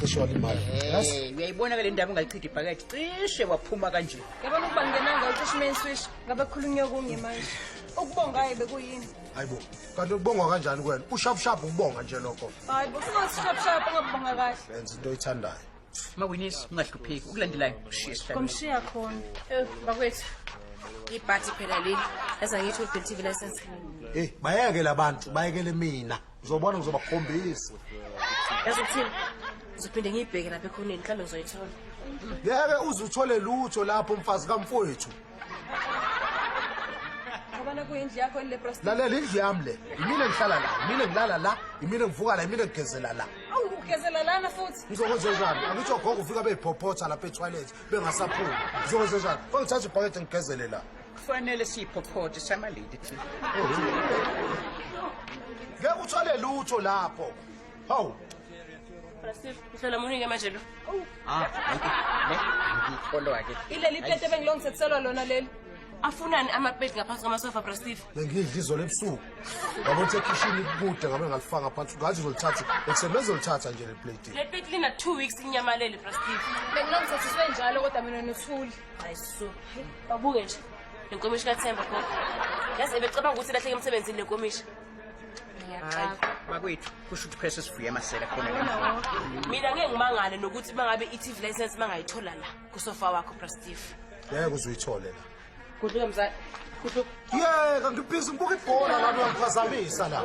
cishe walimala hey uyayibona ke le ndaba ungayichidi ibhakede cishe waphuma kanje yabona ukuba ngenanga ucishe main switch ngabe khulunywa kunye manje ukubongaye bekuyini hayibo kanti ukubongwa kanjani kwena ushapshaphu ukubonga nje lokho hayibo singasishapshaphu ungabonga kahle benza into oyithandayo mawinisi ungahlupheki ukulandelayo kushiye sihlale komshiya khona eh bakwethu ibhathi phela leli yaza ngithi ubhilithivi license hey bayeke labantu bayekele mina Uzobona ngizobakhombisa. Yazi ukuthini? Ngizophinde ngiyibheke lapha ekhoneni mhlawumbe ngizoyithola. Ngeke uze uthole lutho lapho mfazi kamfowethu. Ngibona kuyindlu yakho le prostitute. Lalela indlu yami le. Yimina ngihlala la, yimina ngilala la, yimina ngivuka la, yimina ngigezela la. Awu ugezela lana futhi. Ngizokwenza njani? Akuthi ogogo ufika beyiphophoza lapha e-toilet bengasaphumi. Ngizokwenza njani? Kungithatha ibhakede ngigezele la. kufanele siyiphophothe samalidi thina ngeke uthole lutho lapho hawu Mhlola munike manje lo. Ah, ne ngikholwa ke. Ileli plate bengilongisethiselwa lona leli. Afunani amapeti ngaphansi kwamasofa bra Steve? Bengidla izolo ebusuku. Yabo uthe kitchen ikude ngabe ngalifaka phansi. Ngathi uzolithatha. Ekusebenzisa uzolithatha nje le plate. Le plate lina 2 weeks inyamalele bra Steve. Bengilongisethiswe njalo kodwa mina nothuli. babuke nje lenkomishi kathemba gogo yazi ebecabanga ukuthi lahleke emsebenzini lenkomishi bakwethu kusho ukuthi phese sivuye amasela khona mina ngeke ngimangale nokuthi uma ngabe i-tv license uma ngayithola la kusofa wakho brastif ngeke uzoyithole la kudluke mzali kudluke yeka ngibhizi ngibuka ibhola lami uyangiphazamisa la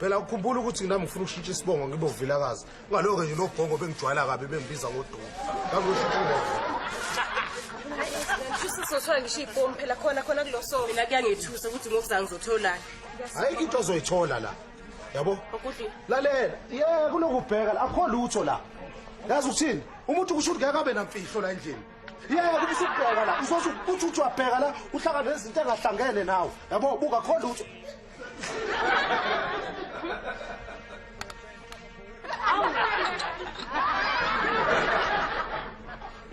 phela ukhumbula ukuthi nami ngifuna ukushintsha isibongo ngibe uvilakazi ngaloke nje lobhongo bengijwayela kabi bengibiza ngodumo sizothola ngisho iy'bomu phela khona khona kulo so mina kuyangithusa ukuthi ngokuza ngizotholani ayikho into ozoyithola la yabo lalela ye kunokubheka la akho lutho la yazi ukuthini umuntu kusho ukuthi ngeke abe namfihlo la endlini yeke kubisa ukubheka la uzothi uthi uthi wabheka la uhlangane nezinto engahlangene nawe yabo buka kho lutho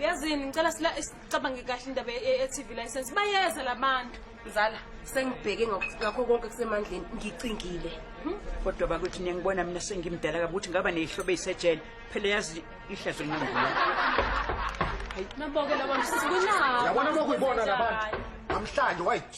yazini ngicela sila sicabange kahle indaba ye-tv license bayeza la bantu mzala sengibheke ngakho konke kusemandleni ngicingile hmm? kodwa bakuthi niyangibona mina sengimdala kabi ukuthi ngaba neyihlobo eyisejele phela yazi ihlazo linambula naboke labantu sisikunawo yabona lokhu yibona labantu namhlanje wayithi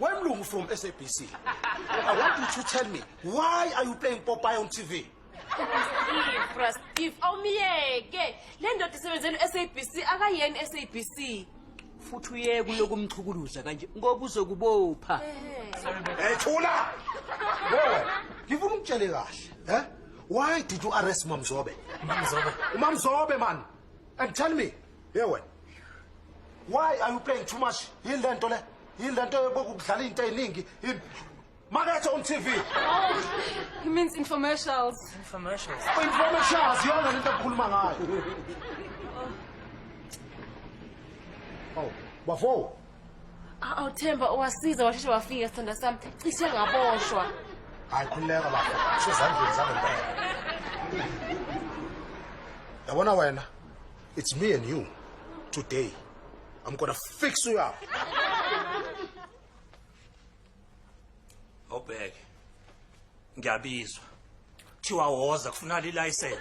Wemlungu from SABC. I want you to tell me why are you playing Popeye on TV? Ifras, if awumyeke le ndoda isebenzela u-SABC akayeni SABC. Futhi uyeke uyokumchukuluza kanje ngoba uzokubopha. Hey thula. Wewe, ngifuna ukutshele kahle, eh? Why did you arrest Mamzobe? Mamzobe. Mamzobe man. And tell me, Hey wena. Why are you playing too much? Yini lento le? Yini lento yokudlala into eziningi? Makethe on TV. Oh, he means infomercials. Infomercials. Oh, infomercials yona lento okukhuluma ngayo. Oh. oh, bafo. Awu Themba owasiza washeshe wafika sithanda sami. Cishe ngaboshwa. Hayi khuleka bafo. Sezandleni zangempela. Yabona wena. It's me and you today. I'm gonna fix you up. Obheke. Ngiyabizwa. Thiwa woza kufuna license.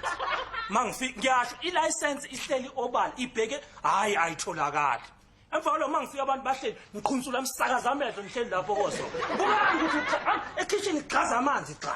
Mangifika ngiyasho ilicense ihleli obala ibheke hayi ayitholakali. Emva kwalo mangifika abantu bahleli ngiqhunsula msakaza amehlo ngihleli lapho koso. Kubani ukuthi ekitchen igxaza amanzi cha.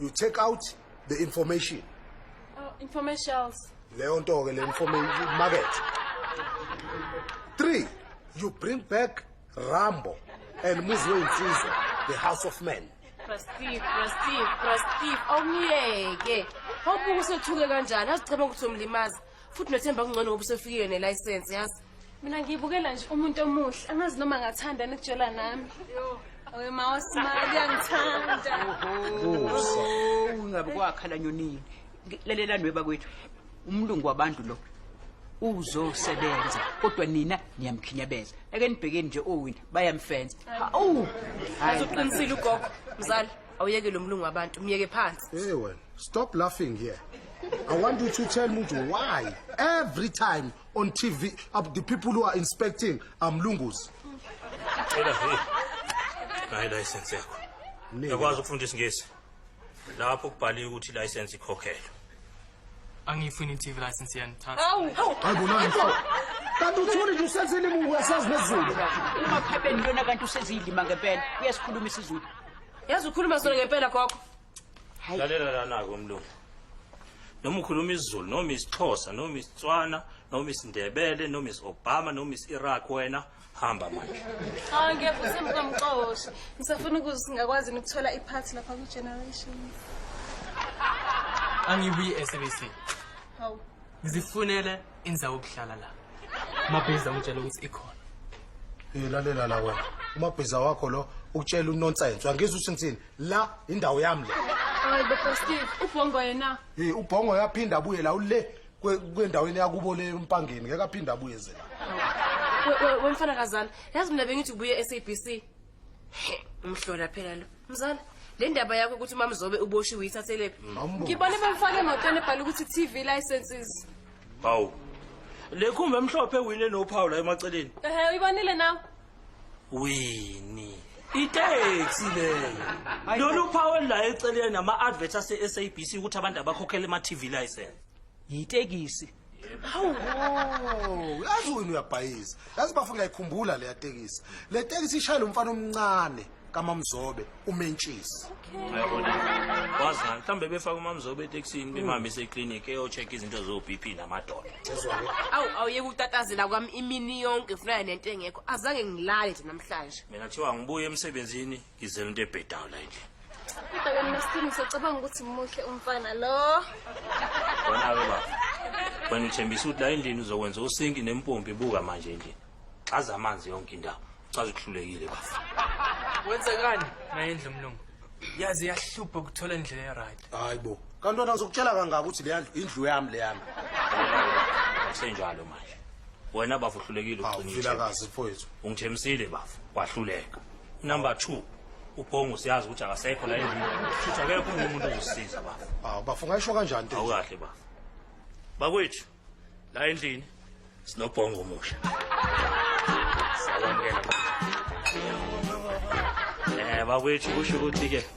you take out the information oh, informations leyo nto ke le information market three you bring back rambo and muzi weyinsiza the house of men Steve, Steve, Steve, awumyeke. Awubuke usethuke kanjani, azicabanga ukuthi umlimaza. futhi nothemba kungcono ngoba usefikile nelayisensi yazi mina ngiyibukela nje umuntu omuhle angazi noma ngathanda nikutshela nami oye ma wasimali uyangithanda ungabe kwakhala nyonini lalela nwe bakwethu umlungu wabantu lo uzosebenza kodwa nina niyamkhinyabeza ake nibhekeni nje owina bayamfenza hawu azoqinisile ugogo mzali awuyeke lo mlungu wabantu myeke phansi hey wena stop laughing here I want you to tell me why every time on TV uh, the people who are inspecting are mlungus. Cela hey. Hayi license yakho. Yakwazi ukufunda isingisi. Lapho kubhaliwe ukuthi license ikhokhelwe. angiyifuni i-tv license yenu kanti uthuni nje usezilimu uyasazi nezulu umakhabeni lona kanti useziyilima ngempela uyasikhuluma isizulu yazi ukhuluma sona ngempela gogo lalela lanako umlungu noma ukhuluma isizulu noma isixhosa noma isitswana noma isindebele noma is-obama noma is-iraq wena hamba manje hawu ngiyaphutha mkamxoshe ngisafuna ukuze singakwazi ukuthola iphathi lapha kwi-generation angibuyi e-sabc hawu ngizifunele indawo yokuhlala la umabhiza ungitshela ukuthi ikhona Eh lalela la wena. Umabhiza wakho lo ukutshela unonsense. Angizwe ukuthi ngithini. La indawo yami le. hayi bafastile ubhongo yena Eh ubhongo yaphinda abuye la ule kwendaweni yakubo le umpangeni ngeke aphinde abuye ze wemfana kazana yazi mina bengithi ubuye e-sabc umhlola phela lo mzala le ndaba yakho ukuthi umamzobe uboshiwe uyithathelebe mm. ngibone bemfake emotweni ebhala ukuthi t v licenses hawu le khumba emhlophe ewine nophawu la emaceleni ehe uyibonile nawe wini iteksi leyo lolu phawu olulayo eceleni nama-advert ase-sabc ukuthi abantu abakhokhela ama-tv license yitekisi hawu Oh, uyazi wena uyabhayiza yazi bafo ngiyayikhumbula leya tekisi le tekisi ishayela umfana omncane kamamzobe umentshisi uyabona wazani mhlawumbe befake umamzobe etekisini bemhambise eklinikhi eyocheck izinto zo-b p namadoda awu awuyeke ukutatazela kwami imini yonke funana nento engekho azange ngilale nje namhlanje mina kuthiwa ngibuye emsebenzini Ngizela into ebhedayo la endlini. Bhekani Masithini ngisacabanga ukuthi muhle umfana lo. Wena ke baba. Wena uthembisa ukuthi la endlini uzokwenza usinki nempompi buka manje endlini. Xaza amanzi yonke indawo. Ucaza ukuhlulekile bafo. Wenzekani nayendlu mlungu? Yazi yahlupha ukuthola indlela eright. Hayi bo. Kanti wena ngizokutshela kangaka ukuthi le ndlu indlu yami le yami. Senjalo manje. Wena bafo uhlulekile Hawu ugcina. ithemba. vilakazi mfowethu. Ungithembisile bafo. Wahluleka. number 2 ubhongo siyazi ukuthi akasekho la endlini futhi akekho omunye umuntu ozosiza bafo hawu bafo ungayisho kanjani into enje? awukahle bafo bakwethu la endlini sinobhongo omusha siyabamukela bafo. eh bakwethu kusho ukuthi-ke